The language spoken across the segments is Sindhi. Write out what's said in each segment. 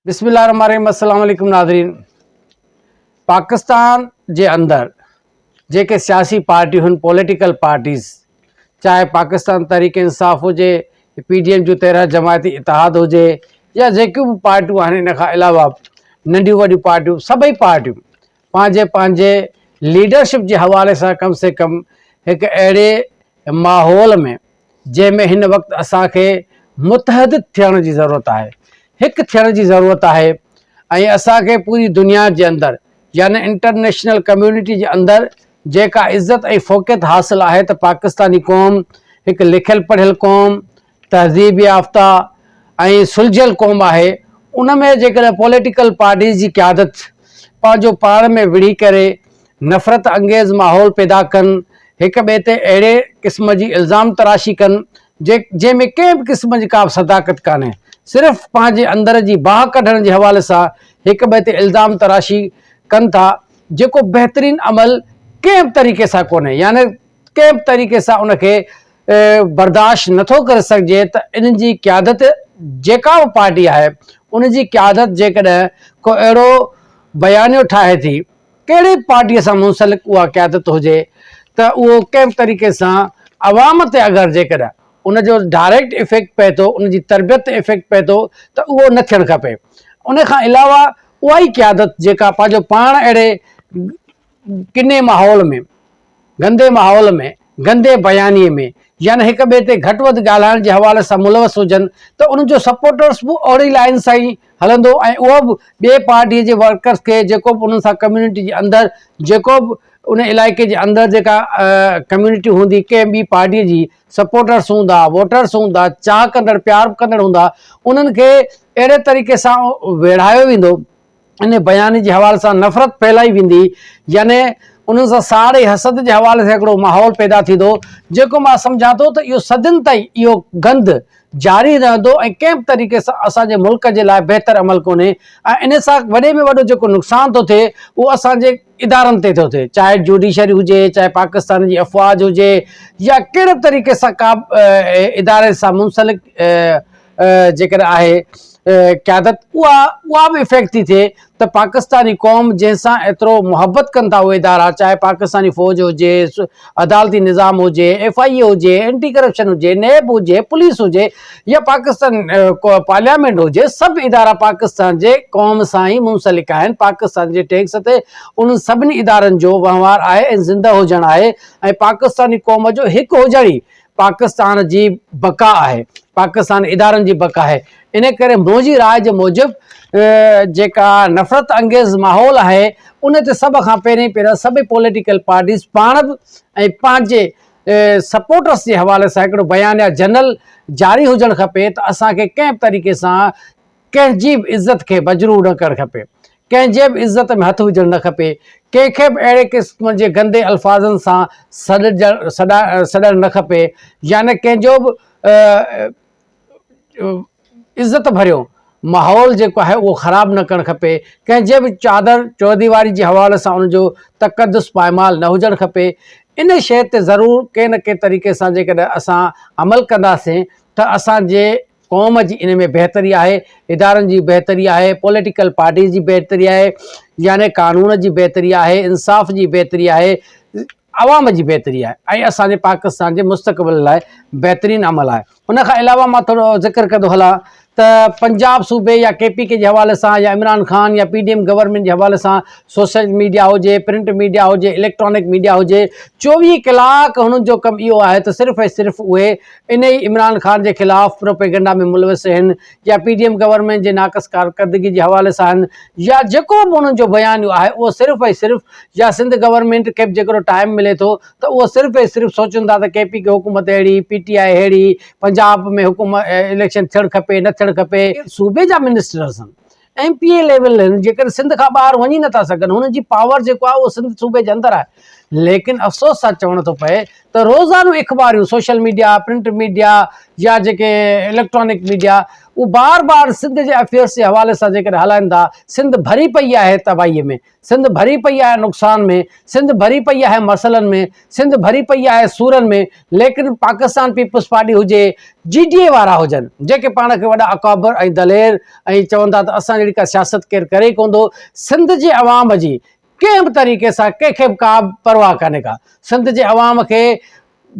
بسم الله الرحمن الرحيم السلام عليڪم ناظرين پاڪستان جي اندر جيڪي سياسي پارٽيون پوليٽيڪل پارٽيز چاهي پاڪستان تحريڪ انصاف هجي پي ڊي ايم جو تيرهن جماعتي اتحاد هجي يا جيڪيون به پارٽيون آهن ان کان علاوه ننڍيون وڏيون پارٽيون سڀئي پارٽيون پنهنجي پنهنجي ليڊرشپ جي حوالي سان ڪم سي ڪم هڪ اهڙي ماحول ۾ جنهن ۾ هن وقت اسان کي متحد ٿيڻ جي ضرورت آهي هڪ ٿيڻ جي ضرورت آهي ۽ اسان کي پوري دنيا جي اندر يعني انٽرنيشنل ڪميونٽي جي اندر جيڪا عزت ۽ فوقيت حاصل آهي ته پاڪستاني قوم هڪ لکيل پڙهيل قوم تهذيب يافته ۽ سلجهيل قوم آهي ان ۾ جيڪڏهن پوليٽيڪل پارٽيز جي قيادت پنهنجو پاڻ ۾ وڙهي ڪري نفرت انگيز ماحول پيدا ڪن هڪ ٻئي تي اهڙي قسم جي الزام تراشي ڪن جنهن ۾ ڪنهن به قسم جي ڪابه صداقت ڪانهي صرف پنهنجي اندر جي باهه ڪڍڻ جي حوالي سان هڪ ٻئي تي الزام تراشي ڪن ٿا جيڪو بهترين عمل ڪنهن به طريقي سان ڪونهي يعني ڪنهن به طريقي سان ان کي برداشت نه ٿو ڪري سگهجي ته ان جي قيادت جيڪا به پارٽي آهي ان جي قيادت جيڪڏهن ڪو اهڙو بيانيو ٺاهي ٿي ڪهڙي به پارٽي سان منسلڪ اها قيادت هجي ته اهو ڪنهن به طريقي سان عوام تي اگر جيڪڏهن ان جو ڊائريڪٽ افيڪٽ پئي ٿو ان جي تربيت تي افيڪٽ پئي ٿو ته اهو نه ٿيڻ کپي ان کان علاوه اها ئي قيادت جيڪا پنهنجو پاڻ اهڙي ڪني ماحول ۾، گندي ماحول ۾، گندي بيانيي ۾ يا نه هڪ ٻئي تي گهٽ وڌ ڳالهائڻ جي حوالي سان ملوث هجن ته انهن جو سپورٽرز به اوڙي لائين سان ئي هلندو ۽ اهو به ٻئي پارٽيء جي ورڪرز کي جيڪو به انهن سان ڪميونٽي جي اندر جيڪو به ان علائقي جي اندر جيڪا ڪميونٽي هوندي ڪنهن ٻي پارٽيء جي سپورٽرز هوندا ووٽرز هوندا چاهه ڪندڙ پيار ڪندڙ هوندا انهن کي اهڙي طريقي سان ويڙهايو ويندو انهيء بيان جي حوالي سان نفرت ڦهلائي ويندي، يعني انهن سان ساڙ ۽ حسد جي حوالي سان هڪڙو ماحول پيدا ٿيندو، جيڪو مان سمجهان ٿو ته اهو صدين تائين اهو گند جاري رهندو ۽ ڪنهن به طريقي سان اسان جي ملڪ جي لاء بهتر عمل ڪونهي ۽ انهيء سان وڏي ۾ وڏو جيڪو نقصان ٿو ٿئي اهو اسان جي ادارن تي ٿو ٿئي چاهي جوڊيشري هجي چاهي پاڪستان جي افواج هجي يا ڪهڙي طريقي سان ڪا به اداري سان منسلڪ جيڪڏهن آهي قيادت اها اها به افيڪٽ ٿي ٿئي ته پاڪستاني قوم جنهن سان ايترو محبت ڪن ٿا اهي ادارا چاهي پاڪستاني فوج هجي عدالتي نظام هجي ايف آئي اي هجي اينٽي ڪرپشن هجي نيب هجي پوليس هجي يا پاڪستان پارليامينٽ هجي سڀ ادارا پاڪستان جي قوم سان ئي منسلڪ آهن پاڪستان جي ٽيڪس تي انهن سڀني ادارن جو وهنوار آهي ۽ زنده هجڻ آهي ۽ پاڪستاني قوم جو هڪ هجڻ ئي پاڪستان جي بقا آهي، پاڪستان ادارن جي بقا آهي، ان ڪري منهنجي راء جي موجب جيڪا نفرت انگيز ماحول آهي ان تي سڀ کان پهرين پهرين سڀ پوليٽيڪل پارٽيز پاڻ به ۽ پنهنجي سپورٽرس جي حوالي سان هڪڙو بيانيه جنرل جاري هجڻ کپي ته اسان کي ڪنهن به طريقي سان ڪنهن جي به عزت کي مجروح نه ڪرڻ کپي، ڪنهن جي به عزت ۾ هٿ وجهڻ نه کپي، ڪنهن کي به اهڙي قسم جي گندي الفاظن سان سڏڻ نه کپي يا نه ڪنهن جو به عزت ڀريو ماحول جيڪو آهي اهو خراب نه ڪرڻ کپي، ڪنهن جي به چادر چوديواري جي حوالي سان ان جو تقدس پائمال نه هجڻ کپي، ان شيء تي ضرور ڪنهن نه ڪنهن طريقي سان جيڪڏهن اسان عمل ڪنداسين ته اسان جي قوم جي ان ۾ بهتري آهي، ادارن جي بهتري آهي، پوليٽيڪل پارٽيز جي بهتري آهي، يعني قانون جي بهتري آهي، انصاف جي بهتري آهي، عوام جي بهتري آهي ۽ اسان جي پاڪستان جي مستقبل لاء بهترين عمل آهي. ان کان علاوه مان ٿورو ذڪر ڪندو هلان ته پنجاب صوبي يا ڪي پي ڪي جي حوالي سان يا عمران خان يا پي ڊي ايم گورنمينٽ جي حوالي سان سوشل ميڊيا هجي، پرنٽ ميڊيا هجي، اليڪٽرانڪ ميڊيا هجي، چوويهه ڪلاڪ هنن جو ڪم اهو آهي ته صرف ۽ صرف اهي انهي ئي عمران خان جي خلاف پروپيگنڊا ۾ ملوث هن يا پي ڊي ايم گورنمينٽ جي ناقص ڪارڪردگي جي حوالي سان هن يا جيڪو به انهن جو بيانيو آهي اهو صرف ۽ صرف يا سنڌ گورنمينٽ کي به جيڪڏهن ٽائيم ملي ٿو ته اهو صرف ۽ صرف سوچن ٿا ته ڪي پي ڪي حڪومت اهڙي پي ٽي آء ههڙي پنجاب ۾ حڪومت اليڪشن ٿيڻ کپي نه ٿيڻ کپي صوبي جا منسٽرس هن ايم پي اي ليول آهن جيڪڏهن سنڌ کان ٻاهر وڃي نٿا سگهن هنن جي پاور جيڪو آهي اهو سنڌ صوبي جي اندر آهي ليڪن افسوس سان چوڻو ٿو پئي ته روزانو اخباريون سوشل ميڊيا پرنٽ ميڊيا يا جيڪي اليڪٽرانڪ ميڊيا اهو بار بار سنڌ جي افيئرس جي حوالي سان جيڪڏهن هلائن ٿا سنڌ ڀري پئي آهي تباهي ۾ سنڌ ڀري پئي آهي نقصان ۾، سنڌ ڀري پئي آهي مسئلن ۾، سنڌ ڀري پئي آهي سورن ۾ ليڪن پاڪستان پيپلز پارٽي هجي، جي ڊي اي وارا هجن جيڪي پاڻ کي وڏا اڪابر ۽ دلير ۽ چون ٿا ته اسان جهڙي ڪا سياست ڪير ڪري ئي ڪونه ٿو، سنڌ جي عوام جي ڪنهن به طريقي سان ڪنهن کي به ڪا به پرواهه ڪانهي ڪا، سنڌ جي عوام کي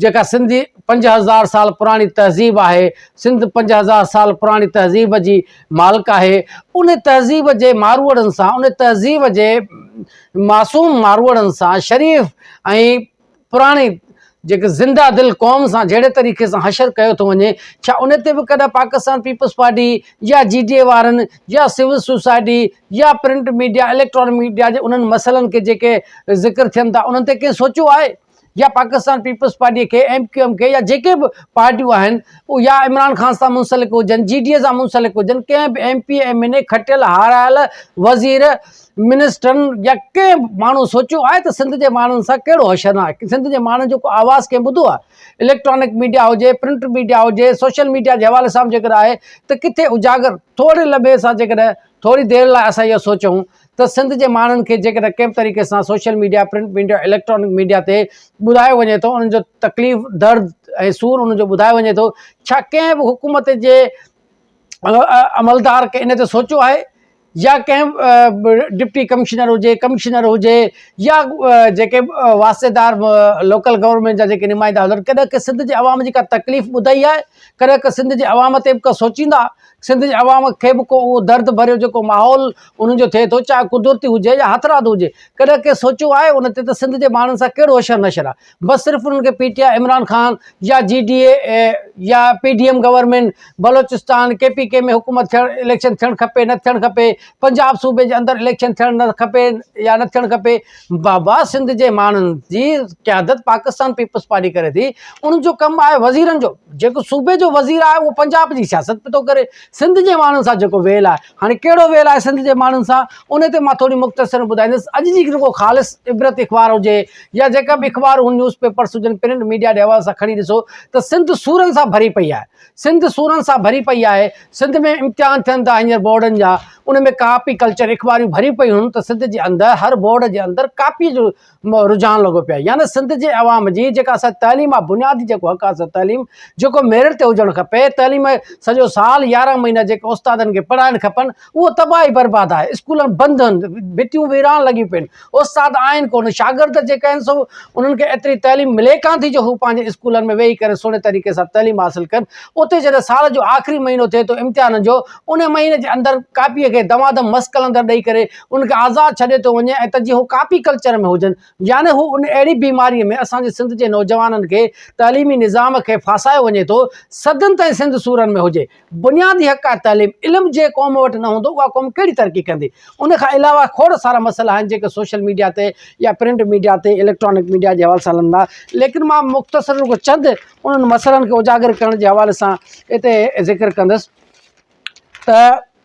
جيڪا سنڌ جي پنج هزار سال پراڻي تهذيب آهي سنڌ پنج هزار سال پراڻي تهذيب جي مالڪ آهي ان تهذيب جي ماروئڙن سان ان تهذيب جي معصوم ماروئڙن سان شريف ۽ پراڻي جيڪي زنده دل قوم سان جهڙي طريقي سان حشر ڪيو ٿو وڃي ڇا ان تي به ڪڏهن پاڪستان پيپلز پارٽي يا جي ڊي اي وارن يا سول سوسائٽي يا پرنٽ ميڊيا اليڪٽرانڪ ميڊيا جي انهن مسئلن کي جيڪي ذڪر ٿين ٿا انهن تي ڪنهن سوچيو آهي يا پاڪستان پيپلز پارٽيء کي، ايم ڪيو ايم کي يا جيڪي به پارٽيون آهن يا عمران خان سان منسلڪ هجن، جي ڊي اي سان منسلڪ هجن، ڪنهن به M P M N A کٽيل هارايل وزير منسٽرن يا ڪنهن به ماڻهو سوچيو آهي ته سنڌ جي ماڻهن سان ڪهڙو حشر نه آهي؟ سنڌ جي ماڻهن جو ڪو آواز ڪنهن ٻڌو آهي؟ اليڪٽرانڪ ميڊيا هجي، پرنٽ ميڊيا هجي، سوشل ميڊيا جي حوالي سان به جيڪڏهن آهي ته ڪٿي اجاگر ٿوري لمحي سان جيڪڏهن ٿوري دير لاء اسان اهو سوچون ته سنڌ جي ماڻهن کي جيڪڏهن ڪنهن به طريقي سان social media, print media, electronic media تي ٻڌايو وڃي ٿو، انهن جو تڪليف، درد ۽ سور انهن جو ٻڌايو وڃي ٿو، ڇا ڪنهن به حڪومت جي عملدار ان تي سوچيو آهي يا ڪنهن ڊپٽي ڪمشنر هجي، ڪمشنر هجي يا جيڪي واسطيدار لوڪل گورنمينٽ جا جيڪي نمائندا هجن ڪڏهن ڪنهن سنڌ جي عوام جي ڪا تڪليف ٻڌائي آهي، ڪڏهن ڪنهن سنڌ جي عوام تي به ڪا سوچيندا. سنڌ جي عوام کي به ڪو اهو درد ڀريو جيڪو ماحول انهن جو ٿئي ٿو چاهي قدرتي هجي يا هٿرادو هجي ڪڏهن ڪنهن سوچيو آهي ان تي ته سنڌ جي ماڻهن سان ڪهڙو حشر نشر آهي بس صرف انهن کي P T I Imran Khan يا جي ڊي اي يا P D M government Balochistan K P K ۾ حڪومت ٿيڻ اليڪشن ٿيڻ کپي نه ٿيڻ کپي پنجاب صوبي جي اندر اليڪشن ٿيڻ نه کپي يا نه ٿيڻ کپي بابا سنڌ جي ماڻهن جي قيادت پاڪستان پيپلز پارٽي ڪري ٿي ان جو ڪم آهي وزيرن جو جيڪو صوبي جو وزير آهي اهو پنجاب جي سياست به ٿو ڪري سنڌ جي ماڻهن سان جيڪو ويل آهي هاڻي ڪهڙو ويل آهي سنڌ جي ماڻهن سان ان تي مان ٿوري مختصر ٻڌائيندس اڄ جي جيڪو خالص عبرت اخبار هجي يا جيڪا به اخبار هو نيوز پيپرس هجن پرنٽ ميڊيا جي حوالي سان کڻي ڏسو ته سنڌ سورن سان ڀري پئي آهي سنڌ سورن سان ڀري پئي آهي سنڌ ۾ امتحان ٿين ٿا هينئر بورڊن جا ان ۾ ڪاپي ڪلچر اخباريون ڀريون پيون هن ته سنڌ جي اندر هر بورڊ جي اندر ڪاپي جو رجحان لڳو پيو يعني سنڌ جي عوام جي جيڪا اسان تعليم آ بنيادي جيڪو حق آ تعليم جيڪو ميرٽ تي هجڻ کپي تعليم سڄو سال يارهن مهينا جيڪو استادن کي پڙهائڻ کپن اهو تباهي برباد آهي، اسڪول بند هن، ڀتيون ويران لڳيون پيون، استاد آهن ڪونه، شاگرد جيڪي آهن سو انهن کي ايتري تعليم ملي ڪانه ٿي جو هو پنهنجي اسڪولن ۾ ويهي ڪري سهڻي طريقي سان تعليم حاصل ڪن، اتي جڏهن سال جو آخري مهينو ٿئي ٿو امتحانن جو، انهي مهيني جي اندر ڪاپيء کي دمادم مس قلندر ڏئي ڪري انهن کي آزاد ڇڏيو ٿو وڃي ۽ ته جي هو ڪاپي ڪلچر ۾ هجن، يعني هو ان اهڙي بيماريء ۾ اسان جي سنڌ جي نوجوانن کي تعليمي نظام کي ڦاسايو وڃي ٿو، صدين تائين سنڌ سورن ۾ هجي. بنيادي حق آهي تعليم، علم جنهن قوم وٽ نه هوندو اها قوم ڪهڙي ترقي ڪندي؟ ان کان علاوه کوڙ سارا مسئلا آهن جيڪي سوشل ميڊيا تي يا پرنٽ ميڊيا تي اليڪٽرانڪ ميڊيا جي حوالي سان هلن ٿا ليڪن مان مختصر رڳو چند انهن مسئلن کي اجاگر ڪرڻ جي حوالي سان هتي ذڪر ڪندس ته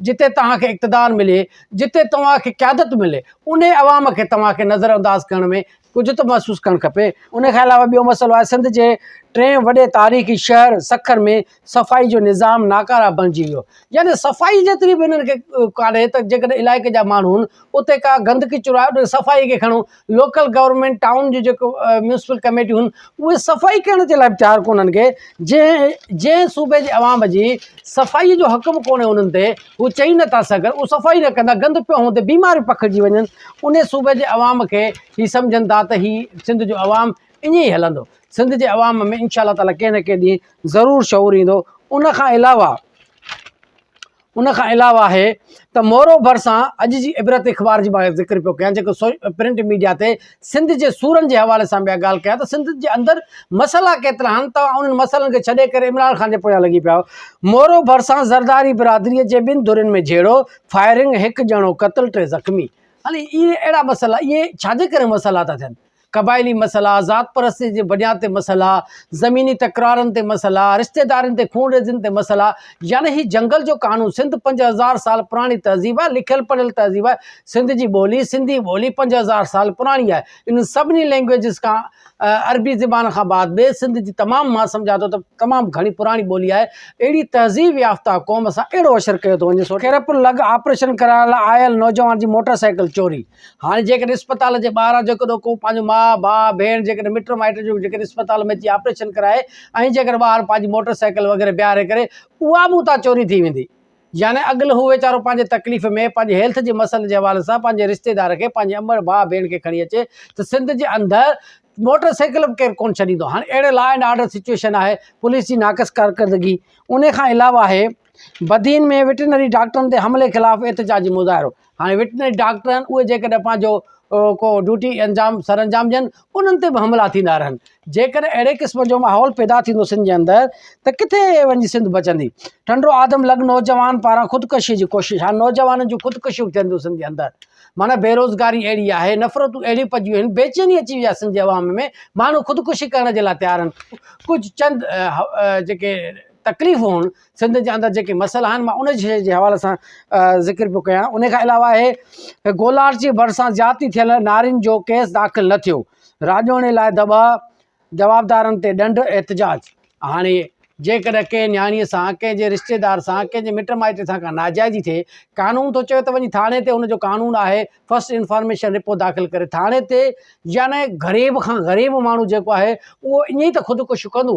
جتي توهان کي اقتدار ملي، جتي توهان کي قيادت ملي، انهي عوام کي توهان کي نظر انداز ڪرڻ ۾ ڪجهه ته محسوس ڪرڻ کپي. انهي کان علاوه ٻيو مسئلو آهي سنڌ جي ٽئين وڏي تاريخي شهر سکر ۾ صفائي جو نظام ناڪاره بڻجي ويو يعني صفائي جيتري به هنن کي ڪانهي ته جيڪڏهن علائقي جا ماڻهو هن اتي ڪا گندڪي چرائي صفائي کي کڻو لوڪل گورنمينٽ ٽائون جون جيڪو ميونسپل ڪميٽيون هن اهي صفائي ڪرڻ جي لاء تيار ڪونه هن کي جنهن جنهن صوبي جي عوام جي صفائي جو حق به ڪونهي انهن تي هو چئي نٿا سگهن اهو صفائي نه ڪندا گند پيو هوندي بيماريون پکڙجي وڃن ان صوبي جي عوام کي هي سمجهن ٿا ته هي سنڌ جو عوام ائين ئي هلندو سنڌ جي عوام ۾ انشاء الله تعاليٰ ڪنهن نه ڪنهن ڏينهن ضرور شعور ايندو ان کان علاوه ان کان علاوه آهي ته مورو ڀرسان اڄ جي عبرت اخبار جي مان ذڪر پيو ڪيان جيڪو پرنٽ ميڊيا تي سنڌ جي سورن جي حوالي سان بيا ڳالهه ڪيان ته سنڌ جي اندر مسئلا ڪيترا آهن توهان انهن مسئلن کي ڇڏي ڪري عمران خان جي پويان لڳي پيا آهيو مورو ڀرسان زرداري برادري جي ٻن ڌرين ۾ جهيڙو فائرنگ هڪ ڄڻو قتل ٽي زخمي هلي اهي اهڙا مسئلا اهي ڇا جي ڪري مسئلا ٿا ٿين قبائلي مسئلا، ذات پرستيء جي بنياد تي مسئلا، زميني تڪرارن تي مسئلا، رشتيدارين تي خون ريزين تي مسئلا، يعني هي جنگل جو قانون، سنڌ پنج هزار سال پراڻي تهذيب آهي، لکيل پڙهيل تهذيب آهي، سنڌ جي ٻولي، سنڌي ٻولي پنج هزار سال پراڻي آهي، انهن سڀني لئنگويجز کان، عربي زبان کان بعد ۾ سنڌ جي تمام مان سمجهان ٿو ته تمام گهڻي پراڻي ٻولي آهي، اهڙي تهذيب يافته قوم سان اهڙو عشر ڪيو ٿو وڃي، سو ڪيرپ لڳ آپريشن ڪرائڻ لاء آيل نوجوان جي موٽر سائيڪل چوري، هاڻي جيڪڏهن اسپتال جي ٻاهران جيڪڏهن ڪو پنهنجو ماء، ڀاء، ڀيڻ جيڪڏهن مٽ مائٽ جو جيڪڏهن اسپتال ۾ اچي آپريشن ڪرائي ۽ جيڪڏهن ٻاهر پنهنجي موٽر سائيڪل وغيره بيهاري ڪري اها به اتان چوري ٿي ويندي يعني اڳل هو ويچارو پنهنجي تڪليف ۾ پنهنجي هيلٿ جي مسئلن جي حوالي سان پنهنجي رشتيدار کي پنهنجي امڙ ڀاء ڀيڻ کي کڻي اچي ته سنڌ جي اندر موٽر سائيڪل به ڪير ڪونه ڇڏيندو هاڻي اهڙي لا اينڊ آرڊر سچويشن آهي پوليس جي ناقص ڪارڪردگي ان کان علاوه آهي بدين ۾ وٽرنري ڊاڪٽرن تي حملي خلاف احتجاجي مظاهرو هاڻي وٽنس ڊاڪٽر آهن، اهي جيڪڏهن پنهنجو ڪو ڊيوٽي انجام سر انجام ڏين، انهن تي به حملا ٿيندا رهن. جيڪڏهن اهڙي قسم جو ماحول پيدا ٿيندو سنڌ جي اندر ته ڪٿي وڃي سنڌ بچندي. ٽنڊو آدم لڳ نوجوان پاران خودڪشيء جي ڪوشش، هاڻي نوجوانن جون خودڪشيون به ٿين ٿيون سنڌ جي اندر. معنيٰ بيروزگاري اهڙي آهي، نفرتون اهڙيون پڄيون آهن، بيچيني اچي وئي آهي سنڌ جي عوام ۾، ماڻهو خودڪشي ڪرڻ جي لاء تيار آهن. ڪجهه چند جيڪي تڪليفون هئن، سنڌ جي اندر جيڪي مسئلا آهن مان ان شيء جي حوالي سان ذڪر پيو ڪيان ان کان علاوه آهي ته گولار جي ڀرسان زيادتي ٿيل نارين جو ڪيس داخل نه ٿيو راڄوڻي لاء دٻاء جوابدارن تي ڏنڊ احتجاج هاڻي جيڪڏهن ڪنهن نياڻي سان ڪنهن جي رشتيدار سان ڪنهن جي مٽ مائٽ سان ڪا ناجائزي ٿئي قانون ٿو چوي ته وڃي ٿاڻي تي ان جو قانون آهي فرسٽ انفارميشن رپورٽ داخل ڪري ٿاڻي تي يعني غريب کان غريب ماڻهو جيڪو آهي اهو ائين ته خودڪشيون ڪندو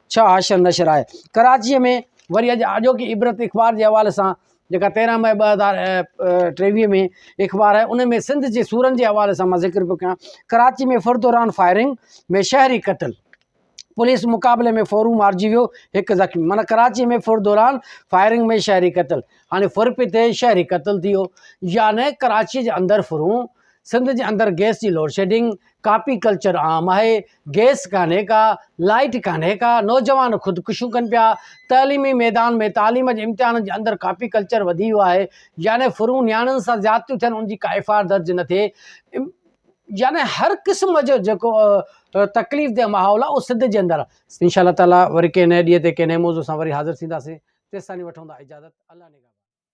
ڇهه حاشر نشر آهي ڪراچيء ۾ وري اڄ اڄوڪي عبرت اخبار جي حوالي سان جيڪا تيرهن مئي ٻه هزار ٽيويهه ۾ اخبار آهي ان ۾ سنڌ جي سورن جي حوالي سان مان ذڪر پيو ڪيان ڪراچي ۾ فر دوران فائرنگ ۾ شهري قتل پوليس مقابلي ۾ فورو مارجي ويو هڪ زخمي مانا ڪراچي ۾ فر دوران فائرنگ ۾ شهري قتل هاڻي فر پي ٿئي شهري قتل ٿي ويو يعنی ڪراچي جي اندر فرون سنڌ جي اندر گئس جي لوڊشيڊنگ، ڪاپي ڪلچر عام آهي، گئس ڪانهي ڪا، لائيٽ ڪانهي ڪا، نوجوان خودڪشيون ڪن پيا، تعليمي ميدان ۾ تعليم جي امتحانن جي اندر ڪاپي ڪلچر وڌي ويو آهي، يعني ڦرون نياڻين سان زيادتيون ٿين ان جي ڪا ايف آء آر درج نه ٿئي، يعني هر قسم جو جيڪو تڪليف ده ماحول آهي اهو سنڌ جي اندر آهي. ان شاء الله تعاليٰ وري ڪنهن نئين ڏينهن تي ڪنهن نئين موضوع سان وري حاضر ٿينداسين، تيستائين وٺون ٿا اجازت، الله نگهبان.